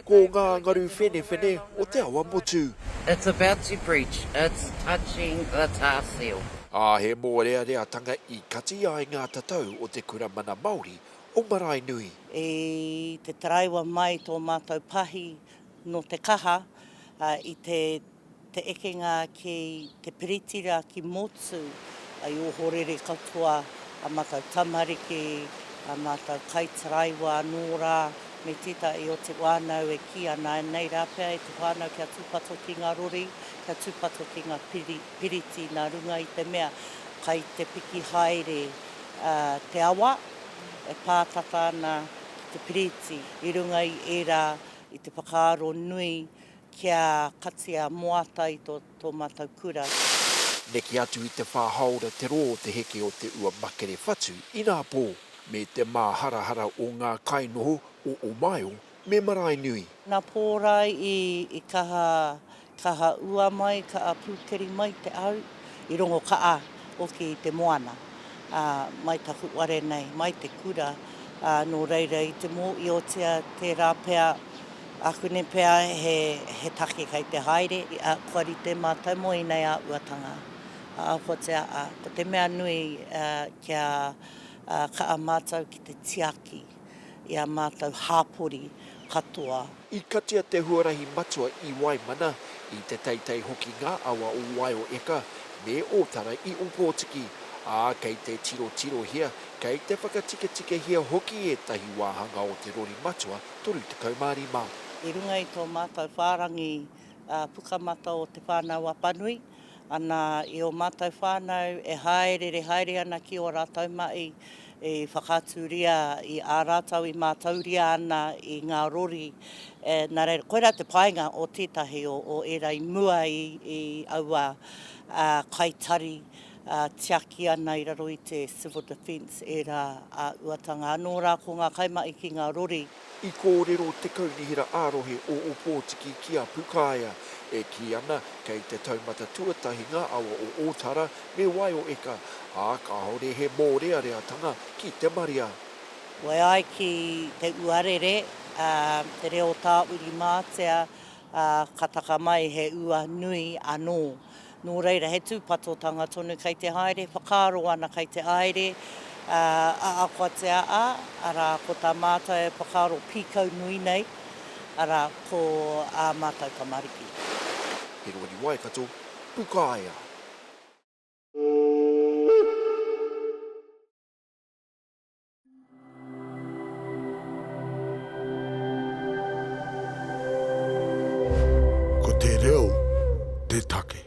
Ko ngā ngaru whenewhene o Te Awa Motu. It's about to breach, it's touching the tar seal. Ā, he mōreareatanga i kati ai ngā tatau o te Kura Mana Māori o Maraenui. I te taraiwa mai tō mātou pahi nō Te Kaha i te te ekenga ki te piriti ra ki Motu, ai ohorere katoa a matou tamariki, a matou kaitaraiwa anō ra, me tetahi o te whanau e ki ana, nei ra pea e te whanau kia tupato ki nga rori, kia tupato ki nga piriti na runga i te mea kai te piki haere te awa e pātata ana ki te piriti i runga i era i te whakaaro nui Kia katia moata i to to matou kura. Neke atu i te wha haora te ro o te heke o te ua makere whatu ina po me te maharahara o nga kai noho o Omaio me Maraenui. Na Porai i kaha kaha ua mai kaa pukeri mai te au i rongo kaa oki i te moana a mai taku ware nei mai te kura a no reira i te mo iotia tera pea Akune pea he take kei te haere, kua rite mātou mō inei āhuatanga, ahakotea ko te mea nui kia kaa mātou ki te tiaki i a mātou hāpori katoa. I katia te huarahi matua i Waimana, i Te Teitei hoki ngā awa o Waioeka me Ōtara i Ōpōtiki, ā, kei te tirotirohia, kei te whakatiketikehia hoki ētahi wāhanga o te rori matua 35. I runga i tō mātou whārangi Pukamata o Te Whānau Apanui, ana i ō mātou whānau e hāereere haere ana ki ō rātou maʻi i whakaaturia i ā rātou i mātauria ana i ngā rori, nā reira, koirā te painga o tētahi o ērā i mua i aua kai tari. tiaki ana i raro i te Civil Defence ērā āhuatanga anō rā ko ngā kaimahi ki ngā rori. I kōrero te Kaunihera ā-Rohe o Ōpōtiki ki a Pukaea, e kī ana kei te taumata tuatahi ngā awa o Ōtara me Waioeka, ā, kāore he mōreareatanga ki te marea. Whai ai ki te uarere, te reo tāurimātea, ka taka mai he ua nui anō. Nō reira, he tūpatotanga tonu kei te haere, whakaaro ana kei te aere, ā, ākoatia a, arā, ko tā mātou e whakaaro pīkau nui nei, arā, ko ā mātou tamariki. He rori Waikato, Pukaea. Ko te reo te take.